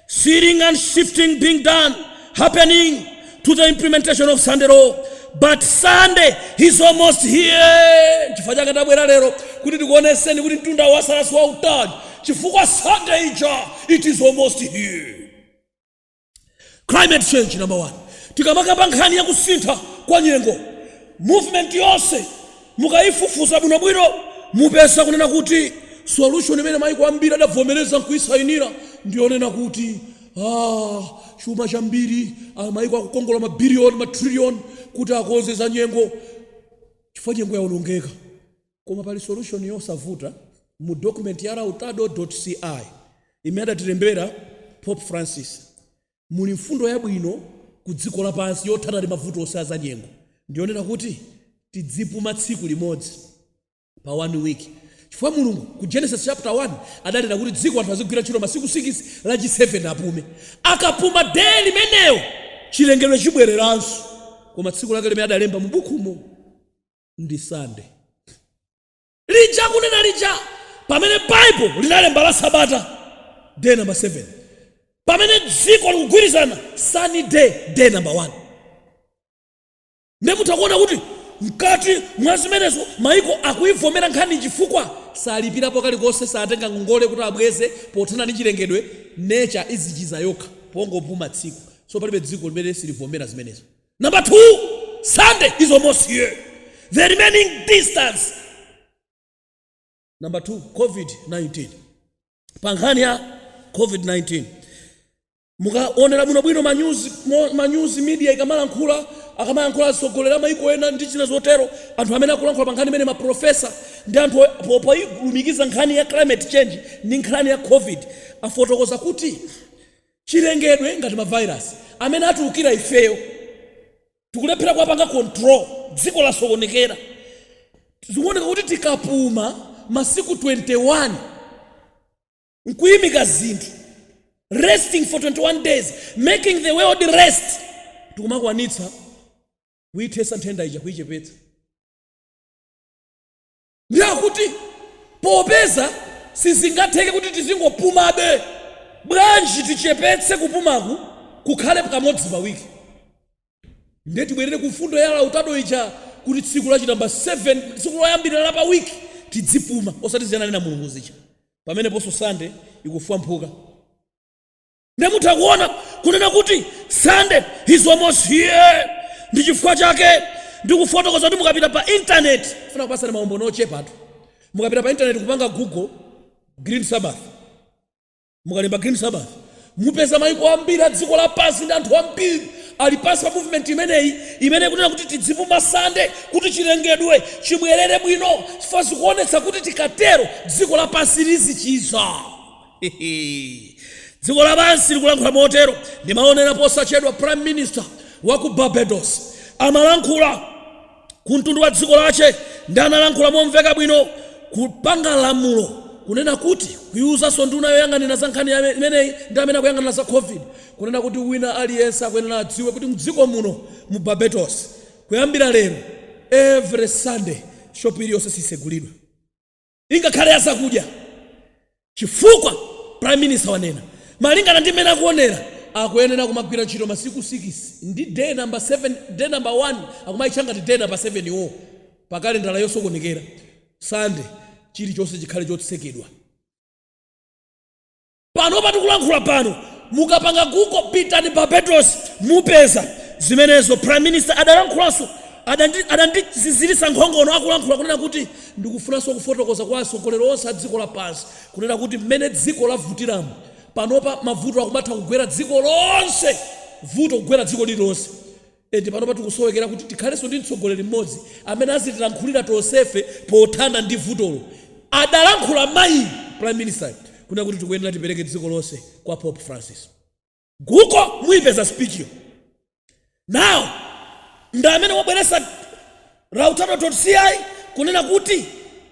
sealing and sifting being done happening to the implementation of Sunday law. But Sunday is almost here. Chifukwa chake tabwera lero kuti tikuonetseni kuti mtunda watsala si wautali chifukwa Sunday ija it is almost here. Climate change number one. Tikamakamba nkhani ya kusintha kwa nyengo movement yonse mukayifufuza bwinobwino mupeza kunena kuti solution imene maiko ambiri adavomereza nkuyisainira ndiyonena kuti Aaa chuma chambiri aa maiko akukongola ma billion ma trillion kuti akonze za nyengo chifukwa nyengo yaonongeka koma pali solution yosavuta mu document ya Lautado dot ci imene adatilembera Pope Francis muli mfundo yabwino ku dziko lapansi yothana ndi mavuto onse a za nyengo ndiyonena kuti tidzipuma tsiku limodzi pa one week chifukwa mulungu ku genesis chapter 1 adanena kuti dziko anthu azigwira ntchito masiku 6 lachi 7 apume akapuma day limenelo chilengedwe chibwereranso koma tsiku lake limene adalemba mu bukhumo ndi Sunday lija kunena lija pamene baibulo linalemba la sabata day number 7 pamene dziko likugwirizana Sunday day number 1 Ndiye mutha kuona kuti mkati mwa zimenezo maiko akuivomera nkhaniyi chifukwa salipirapo kalikonse, satenga ngongole kuti abweze pothana ndi chilengedwe, nature izichiza yokha pongopuma tsiku, so palibe dziko limene silivomera zimenezo. Number 2, Sunday is almost here, the remaining distance Number 2, COVID-19. Pa nkhani ya COVID-19, Mukaonera bwinobwino manyuzi media ikamalankhula, akamayankhula atsogoleri a maiko ena ndi zina zotero, anthu amene akulankhula pa nkhani imene ma professor ndi anthu poilumikiza nkhani ya climate change ndi nkhani ya Covid afotokoza kuti chilengedwe ngati ma virus amene atiukira ifeyo tikulephera kuwapanga control, dziko lasokonekera. Zikuoneka kuti tikapuma masiku 21. nkuimika zinthu resting for 21 days making the world rest tikumakwanitsa kuithesa nthenda ija kuichepetsa ndiye akuti popeza sizingatheke kuti tizingopumabe bwanji tichepetse kupumaku kukhale kamodzi pawiki Ndiye tibwerere ku mfundo ya Lautado ija, kuti tsiku la chinamba 7, tsiku loyambirira la pa week, tidzipuma, osati zija ananena Mulungu zija. Pameneponso Sunday ikufwamphuka. Ndiye mutha kuona kunena kuti Sunday is almost here. Ndi chifukwa chake ndikufotokoza kuti mukapita pa internet, ndifuna kupatsani maumboni ochepatu. Mukapita pa internet kupanga Google Green Sabbath, mukalemba green sabbath mupeza maiko ambiri a dziko lapansi ndi anthu ambiri ali pansi pa movement imeneyi imene ikunena kuti tidzipuma Sunday kuti chilengedwe chibwerere bwino chifukwa zikuonetsa kuti tikatero dziko lapansi lizichiza dziko lapansi likulankhula motero ndimaonera posachedwa prime minister wa ku barbados amalankhula ku mtundu wa dziko lache ndi analankhula momveka bwino kupanga lamulo kunena kuti kuiuzanso nduna yoyang'anira za nkhani imeneyi ndi amene akuyang'anira za covid kunena kuti wina aliyense akuyenera adziwe kuti mdziko muno mu barbados kuyambira lero every sunday shopu iliyonse sisegulidwa ingakhale ya zakudya chifukwa prime minister wanena malingana ndi mmene akuonera akuyenera kumagwira ntchito masiku 6 ndi day number 7 day number 1 akumayitcha ngati day number 7 iwo pa kalendala yosokonekera sande chilichonse chikhale chotsekedwa Panopa tikulankhula pano mukapanga google pitani Barbados mupeza zimenezo prime minister adalankhulanso adandiziziritsa nkhongono akulankhula kunena kuti ndikufunanso kufotokoza kwa atsogoleri onse a dziko lapansi kunena kuti mmene dziko lavutiramu panopa mavuto akumatha kugwera dziko lonse vuto kugwera dziko lililonse And panopa tikusowekera kuti tikhalenso ndi mtsogoleri mmodzi amene azitilankhulira tonsefe pothana ndi vutolo, adalankhula mayi Prime Minister yu. Kunena kuti tikuyenera tipereke dziko lonse kwa Pope Francis. Google muipeza speech yo? Now ndi amene wabweretsa Laudato Si kunena kuti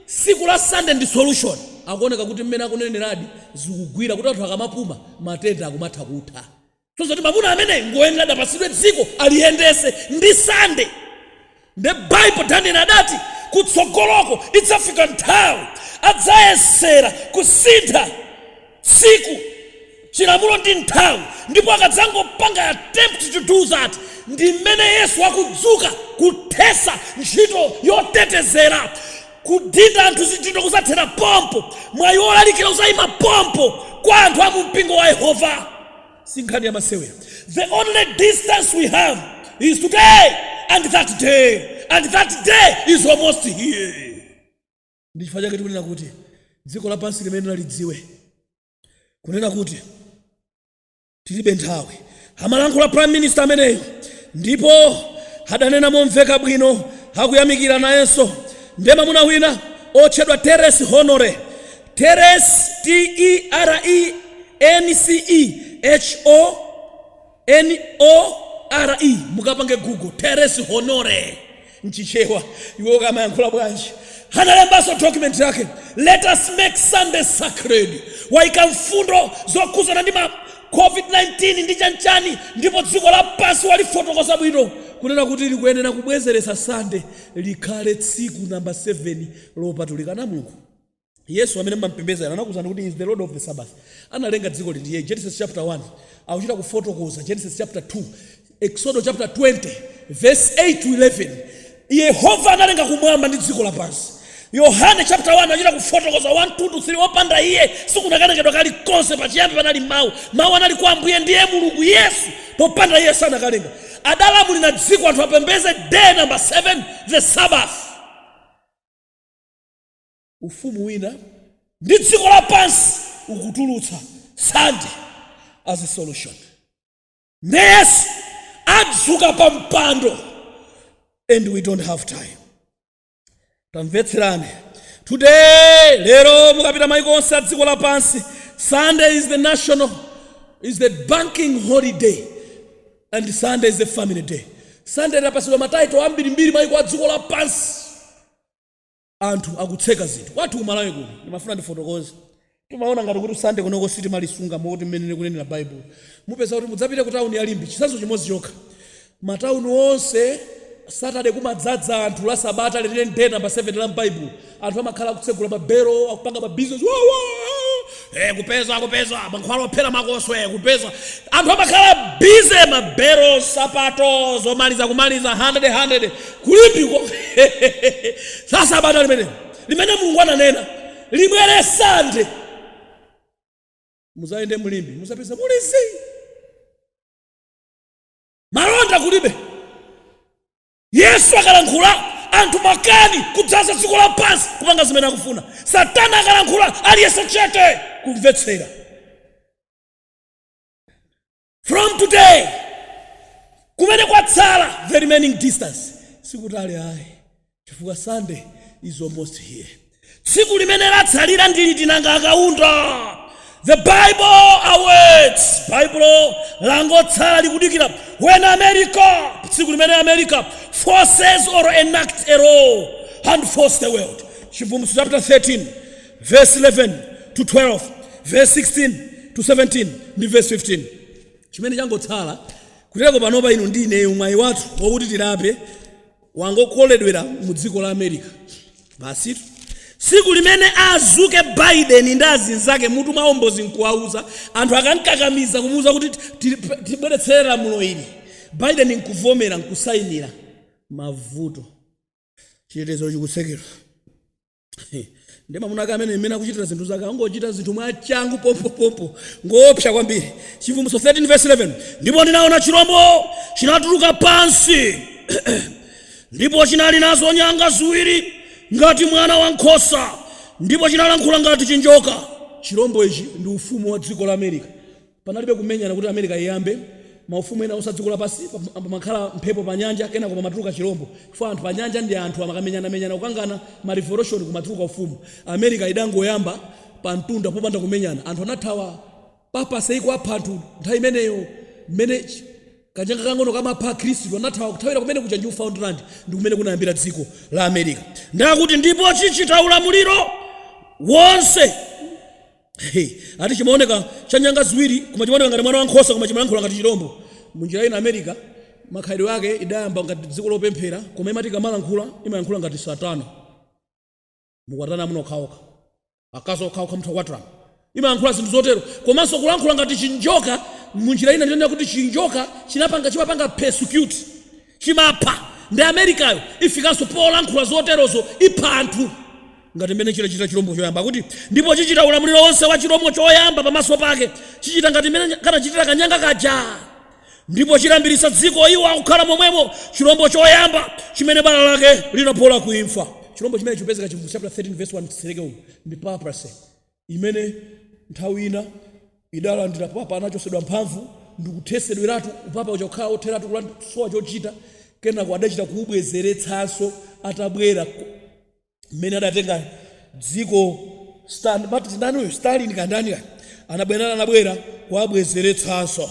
tsiku la Sunday ndi solution. Akuoneka kuti mmene akuneneradi zikugwira kuti anthu akamapuma matenda akumatha kutha. kusonyeza kuti mamuna ameneyi ngoyenera adzapasidwe dziko aliyendese ndi sande nde baibulo daniel adati kutsogoloko idzafika nthawi adzayesera kusintha tsiku chilamulo ndi nthawi ndipo akadzangopanga attempt to do that ndi mmene yesu akudzuka kuthesa ntchito yotetezera kudinda anthu zidindo kuzathera pompo mwayi wolalikira uzayima pompo kwa anthu a mu mpingo wa yehova si nkhani ya masewera the only distance we have is today and that day and that day is almost here ndi chifukwa chake tikunena kuti dziko lapansi limeneli lidziwe kunena kuti tilibe nthawi amalankhula prime minister ameneyo ndipo adanena momveka bwino akuyamikira nayenso ndi mamuna wina otchedwa terence honore Terence T-E-R-E-N-C-E-H-O-N-O-R-E mukapange google terence honore mchichewa iwo akamayankhula bwanji analembanso document yake let us make sunday sacred waika mfundo zokhuzana ndi ma covid-19 ndi chanchani ndipo dziko lapansi walifotokoza bwino kunena kuti likuyenera kubwezeretsa sande likhale tsiku namba 7 lopatulikira mulungu yesu amene mmampembeza ena anakuuzani kuti he is the lord of the sabbath analenga dzikoli ndiye genesis chapter 1 akuchita kufotokoza genesis chapter 2 exodo chapter 20 verse 8 to 11 yehova analenga kumwamba ndi dziko lapansi yohane chapter 1 anachita kufotokoza 1 2 to 3 opanda iye sikunakalengedwa kalikonse pachiyambi panali mawu mawu anali kwa ambuye ndiye mulungu yesu popanda iye sanakalenga adalamulira dziko anthu apembeze day number 7 the sabbath ufumu wina ndi dziko lapansi ukutulutsa sande as a solution nde yesu adzuka pa mpando and we don't have time tamvetserani today lero mukapita maiko onse a dziko lapansi sunday is the national is the banking holiday and sunday is the family day sunday idapasidwa mataito ambirimbiri maiko a dziko lapansi anthu akutseka zinthu kwathu ku malawi kuno ndimafuna ndifotokoze timaona ngati kuti sande kunoko sitimalisunga moti mmene likunenera baibulo mupeza kuti mudzapite ku tauni ya limbe chitsanzo chimodzi chokha matauni onse satade kumadzadza anthu la sabata lenileni day number 7 la mbaibulo anthu amakhala akutsegula mabelo akupanga mabizinesi Eh, kupeza kupeza mankhwala ophera makoswe eh, kupeza anthu amakhala bize mabero sapato zomaliza kumaliza 100 100 ku limbeko tsa sabata limene limene mulungu ananena libwere sande muzayende mu limbe muzapeza muli zii malonda kulibe Yesu akalankhula, anthu makani kudzaza dziko lapansi kupanga zimene akufuna. Satana akalankhula, aliyense chete kumvetsera. From today, kumene kwatsala, the remaining distance, sikutali ayi chifukwa Sunday is almost here. tsiku limene latsalira ndi liti nanga akaunda the bible awaits baibulo langotsala likudikira when america tsiku limene america forces or enact a law and force the world chivumbulutso chapter 13 verse 11 to 12 verse 16 to 17 ndi verse 15 chimene changotsala kutereko panopa inu ndi ineyo mwayi wathu wakuti tilape Wangokoledwera mu dziko la America. Basitu. Tsiku limene azuke Biden ndi azinzake mutu mwawo mbozi nkuwauza, anthu akamkakamiza kumuuza kuti ti- ti- tibweretsere lamulo ili, Biden nkuvomera nkusainira, mavuto. Chitetezo chikutsekedwa. ndi mamuna ake amene mmene akuchitira zinthu zake angochita zinthu mwachangu pompopompo ngoopsa kwambiri chivumbutso 13 verse 11 ndipo ndinaona chirombo china tuluka pansi ndipo chinali nazo nyanga ziwiri ngati mwana wa nkhosa ndipo chinalankhula ngati chinjoka chirombo ichi ndi ufumu wa dziko la america Panalibe kumenyana kuti America iyambe. Maufumu ena onse adziko lapansi pamakhala mphepo panyanja kenako pamatuluka chilombo chifukwa anthu panyanja ndi anthu amakamenyanamenyana kukangana ma revolution kumatuluka ufumu. America idangoyamba pamtunda popanda kumenyana anthu anathawa papacy ikuwapha anthu nthawi imeneyo mmene kanyanga kakang'ono kamapha akhristu anathawa kuthawira kumene kuja Newfoundland ndikumene kunayambira dziko la America. Ndiye akuti ndipo chichita ulamuliro wonse. He! Ati chimaoneka cha nyanga ziwiri koma chimaoneka ngati mwana wa nkhosa koma chimalankhula ngati chilombo. Munjira ina America makhalidwe ake idayamba ngati dziko lopemphera koma imati ikamalankhula imayankhula ngati satana. Mukwatirane amuna okhaokha. Akazi okhaokha mutha kukwatirana. Imayankhula zinthu zotero komanso kulankhula ngati chinjoka munjira ina ndi kunena kuti chinjoka chinapanga chimapanga persecute chimapha ndi Americayo ifikanso polankhula zoterozo ipha anthu ngati mmene chidachitira chilombo choyamba akuti ndipo chichita ulamuliro wonse wa chilombo choyamba pamaso pake chichita ngati mmene kanachitira kanyanga kaja ndipo chilambiritsa dziko iwo akukhala momwemo chilombo choyamba chimene bala lake linapola kuimfa chilombo chimene chipezeka chivu chapter 13 verse 1 kutsetsereka umu ndi papacy imene nthawi ina idalandira papa anachotsedwa mphamvu ndikuthetsedweratu upapa uja kukhala otheratu kuland- kusowa chochita kenako adachita kuubwezeretsanso atabwera mmene adatenga dziko amati ndani uyu stalin kandani kani anabwera anabwera kuabwezeretsanso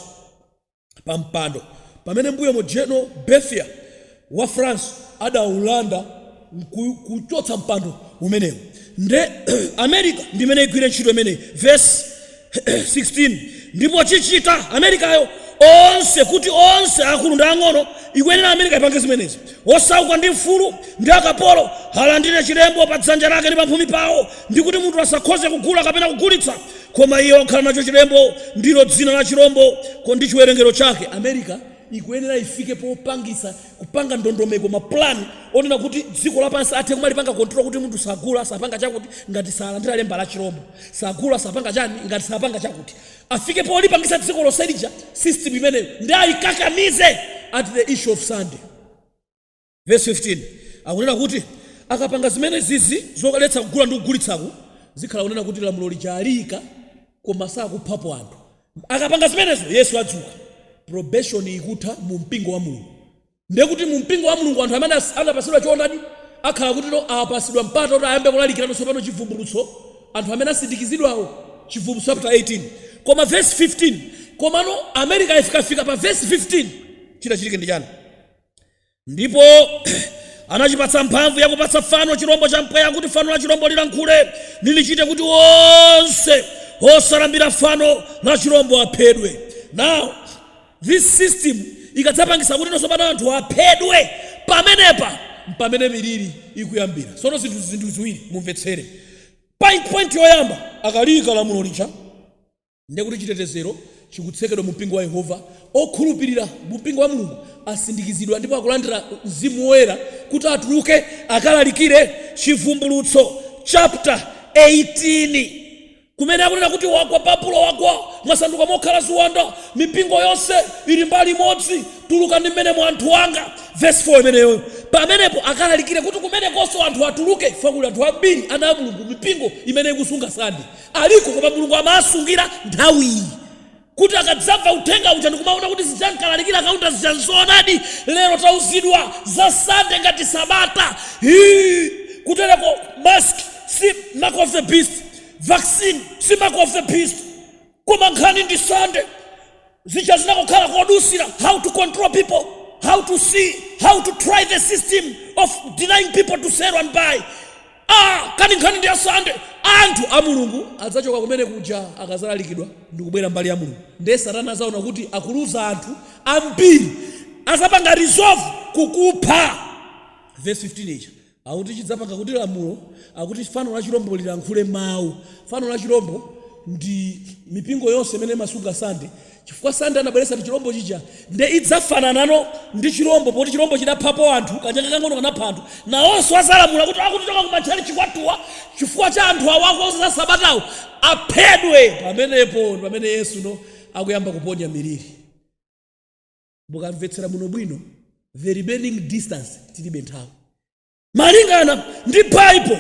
pa mpando pamene m'mbuyomo General Berthier wa France adaulanda nku- kuchotsa mpando umenewo nde america ndimene igwire ntchito imeneyi verse 16 ndipo chichita americayo onse kuti onse akulu ndi ang'ono ikuyenera america ipange zimenezi Osauka ndi mfulu, ndi akapolo, alandire chilembo pa dzanja lake ndi pamphumi pawo, ndi kuti munthu asakhoze kugula kapena kugulitsa, koma iye wakhala nacho chilembo, ndilo dzina la chirombo, ndi chiwerengero chake. America ikuyenera ifike popangitsa kupanga ndondomeko ma plan onena kuti dziko lapansi athe kumalipanga control kuti munthu sagula sapanga chakuti ngati salandira lemba la chirombo, sagula sapanga chani ngati sapanga chakuti. afike polipangisa dziko lonse lija system imeneyo ndi ayikakamize at the issue of sunday verse 15 akunena kuti akapanga zimenezizi zoletsa kugula ndi kugulitsaku zikhala kunena kuti lamulo lija aliika koma sakuphapo anthu akapanga zimenezo yesu adzuka probation ikutha mu mpingo wa mulungu ndiye kuti mu mpingo wa mulungu anthu amene anapatsidwa choonadi akhala kuti apatsidwa mpata kuti ayambe kulalikirano tsopano chivumbulutso anthu amene asindikizidwawo chivumbulutso chapter 18 koma verse 15 komano america ifikafika pa verse 15 chidzachitike ndi chani ndipo anachipatsa mphamvu yakupatsa fano chirombo cha mpweya kuti fano la chirombo lilankhule nilichite kuti onse osalambira fano la chirombo aphedwe now This system ikadzapangisa kuti tsopano anthu aphedwe pamenepa mpamene miliri ikuyambira. Tsono zinthu zinthu ziwiri mumvetsere. Point point yoyamba akaika lamulo lija ndiye kuti chitetezero chikutsekedwa mu mpingo wa Yehova. Okhulupirira mu mpingo wa Mulungu asindikizidwa ndipo akulandira mzimu woyera kuti atuluke akalalikire Chivumbulutso chapter 18. Kumene akunena kuti wagwa, Babulo wagwa, wasanduka mokhala ziwanda, mipingo yonse ili mbali imodzi, tulukani m'menemo anthu anga, vesi 4 imeneyoyo, pamenepo akalalikire kuti kumenekonso anthu atuluke chifukwa kuli anthu ambiri, ana a Mulungu, mipingo imene ikusunga Sande, aliko koma Mulungu amawasungira nthawiyi. kuti akadzamva uthenga uja ndikumaona kuti zija ankalalikira Kaunda zija nzoonadi lero tauzidwa za Sunday ngati sabata hii kutereko mask si mark of the beast vaccine si mark of the beast koma nkhani ndi Sunday zija zinangokhala kodutsira how to control people how to see how to try the system of denying people to sell and buy A, kani nkhani ndi ya Sunday? Anthu a Mulungu adzachoka kumene kuja akazalalikidwa ndikubwera mbali ya Mulungu nde satana azaona kuti akuluza anthu ambiri azapanga resolve kukupha verse 15 ija akuti chidzapanga kuti lamulo akuti fano la chilombo lilankhule mawu fano la chilombo ndi mipingo yonse imene imasunga Sunday Chifukwa Sunday anabweretsa ndi chilombo chija nde idzafananano ndi chilombo poti chilombo chidaphapo anthu, kanyanga kakang'ono kanapha anthu, nawonso azalamula kuti akutichoka ku matchalitchi kwathuwa chifukwa cha anthu awa akuuza za sabatawo aphedwe pamenepo ndi pamene Yesuno akuyamba kuponya miliri mukamvetsera bwinobwino the remaining distance tilibe nthawi. Malingana ndi Bible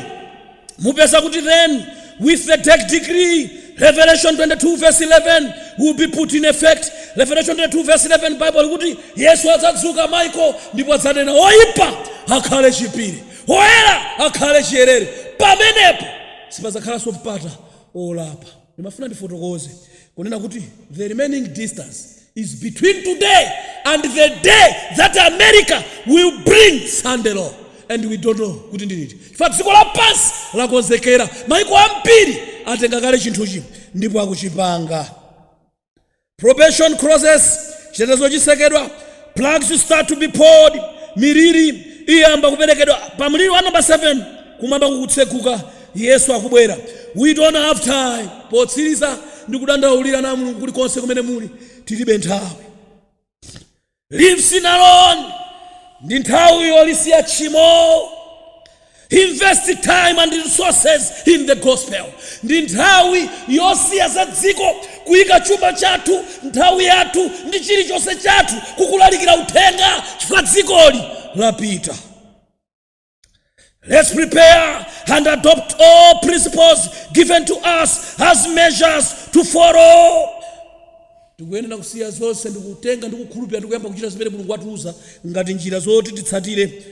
mupeza kuti then with the dec decree Revelation 22 verse 11 will be put in effect. Revelation 22 verse 11 Bible likuti Yesu adzadzuka Michael ndipo adzanena oyipa akhale chiipire oyera akhale chiyerere pamenepo sipadzakhalanso mpata olapa. Ndimafuna ndifotokoze kunena kuti the remaining distance is between today and the day that America will bring Sunday law and we don't know kuti ndi liti chifukwa dziko lapansi lakonzekera maiko ambiri atenga kale chinthuchi ndipo akuchipanga probation closes chitetezo chisekedwa plagues start to be poured miliri iyamba kuperekedwa pa mliri wa namba 7 kumwamba kukutseguka yesu akubwera we don't have time potsiriza ndikudandaulira na mulungu kulikonse kumene muli tilibe nthawi leave sin alone ndi nthawi yolisiya tchimo invest time and resources in the gospel ndi nthawi yosiya za dziko kuyika chuma chathu nthawi yathu ndi chilichonse chathu kukulalikira uthenga chifukwa dzikoli lapita Let's prepare and adopt all principles given to us as measures to follow. tikuyenera kusiya zonse ndikutenga ndikukhulupirira ndikuyamba kuchita zimene mulungu watiuza ngati njira zoti titsatire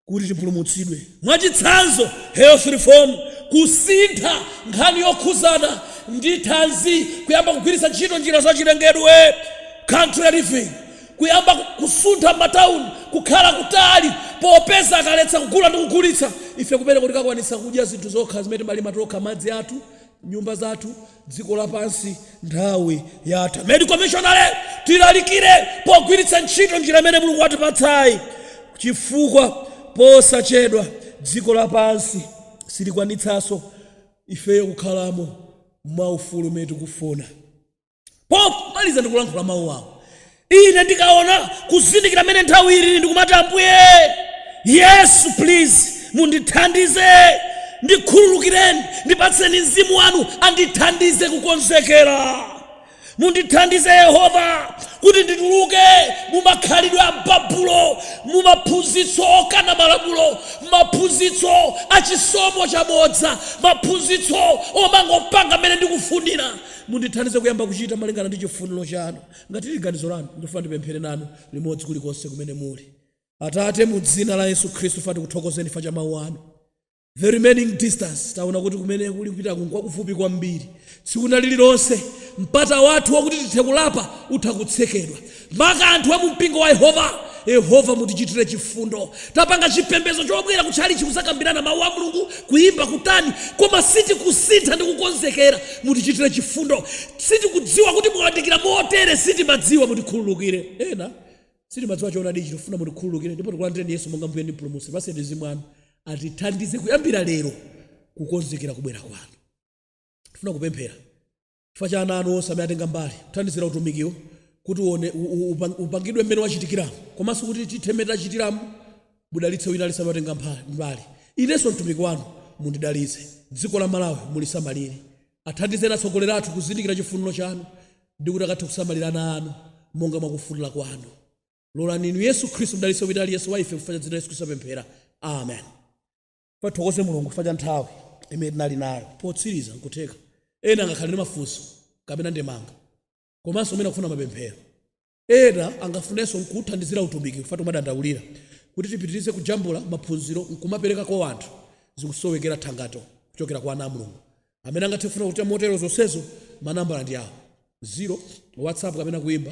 kuti tipulumutsidwe mwachitsanzo health reform kusintha nkhani yokhuzana ndi thanzi kuyamba kugwiritsa ntchito njira zachilengedwe country living Kuyamba kusuntha m'matauni kukhala kutali, popeza akaletsa kugula ndi kugulitsa, ife kumeneko tikakwanitsa kudya zinthu zokha zimene timalima tokha, madzi athu, nyumba zathu, dziko lapansi, nthawi yatha. Medical Missionary, Tilalikire pogwiritsa ntchito njira imene Mulungu watipatsayi, chifukwa posachedwa dziko lapansi silikwanitsanso ifeyo kukhalamo mwaufulu mmene tikufuna. Pomaliza ndikulankhula mawu awa, Ine ndikaona kuzindikira mmene nthawi ilili ndikumati, Ambuye Yesu, please, mundithandize, ndikhululukireni, ndipatseni Mzimu Wanu andithandize kukonzekera. Mundithandize, Yehova, kuti ndituluke mu makhalidwe a Babulo, mu maphunzitso okana malamulo, maphunzitso a chisomo chabodza, maphunzitso omangopanga mmene ndikufunira. Mundithandize kuyamba kuchita malingana ndi chifuniro chanu. Ngati liri ganizo lanu, ndifuna ndipemphere nanu limodzi kulikonse kumene muli. Atate, mu Dzina la Yesu Khristu, tifuna tikuthokozeni chifukwa cha Mawu Anu. The remaining distance, taona kuti kumene tikupitaku nkwakufupi kwambiri. Tsiku lina liri lonse, mpata wathu wakuti tithe kulapa utha kutsekedwa. Maka anthu amumpingo wa Yehova, Yehova mutichitire chifundo. Tapanga chipembedzo chobwera kutchalitchi kuzakambirana mau a Mulungu, kuimba, kutani, koma sitikusintha ndi kukonzekera. Mutichitire chifundo. Sitimadziwa kuti mwawandikira motere. Sitimadziwa. Mutikhululukire. Ena sitimadziwa choonadi ichi. Tifuna mutikhululukire ndipo tikulandireni Yesu monga Mbuye ndi Mpulumutsi. Tipatseni Mzimu wanu. Atithandize kuyambira lero kukonzekera kubwera kwanu. Tifuna kupemphera. chifukwa cha ana anu onse amene atenga mbali kuthandizira utumikiwu kuti uone, u, u, upang- upangidwe mmene wachitikiramu komanso kuti tithe mmene tachitiramu mudalitse wina aliyense amatenga mpha- mbali inenso mtumiki wanu mundidalitse dziko la malawi mulisamalire athandizeni atsogoleri athu kuzindikira chifuniro chanu ndi kuti akathe kusamalira ana anu monga mwakufunira kwanu lolani inu yesu khristu mdalitse wina aliyense wa ife chifukwa cha dzina la yesu khristu ndapemphera amen Tithokoze Mulungu chifukwa cha nthawi imene tinali nayo. Potsiriza, nkutheka ena angakhale ndi mafunso kapena ndemanga komanso amene akufuna mapemphero. Ena angafunenso kuuthandizira utumiki chifukwa timadandaulira kuti tipitirize kujambula maphunziro nkumapereka kwa anthu zikusowekera thangato kuchokera kwa ana a Mulungu amene angathe kufuna kuchita motero zonsezo. Manambala ndi awa, 0 WhatsApp kapena kuimba,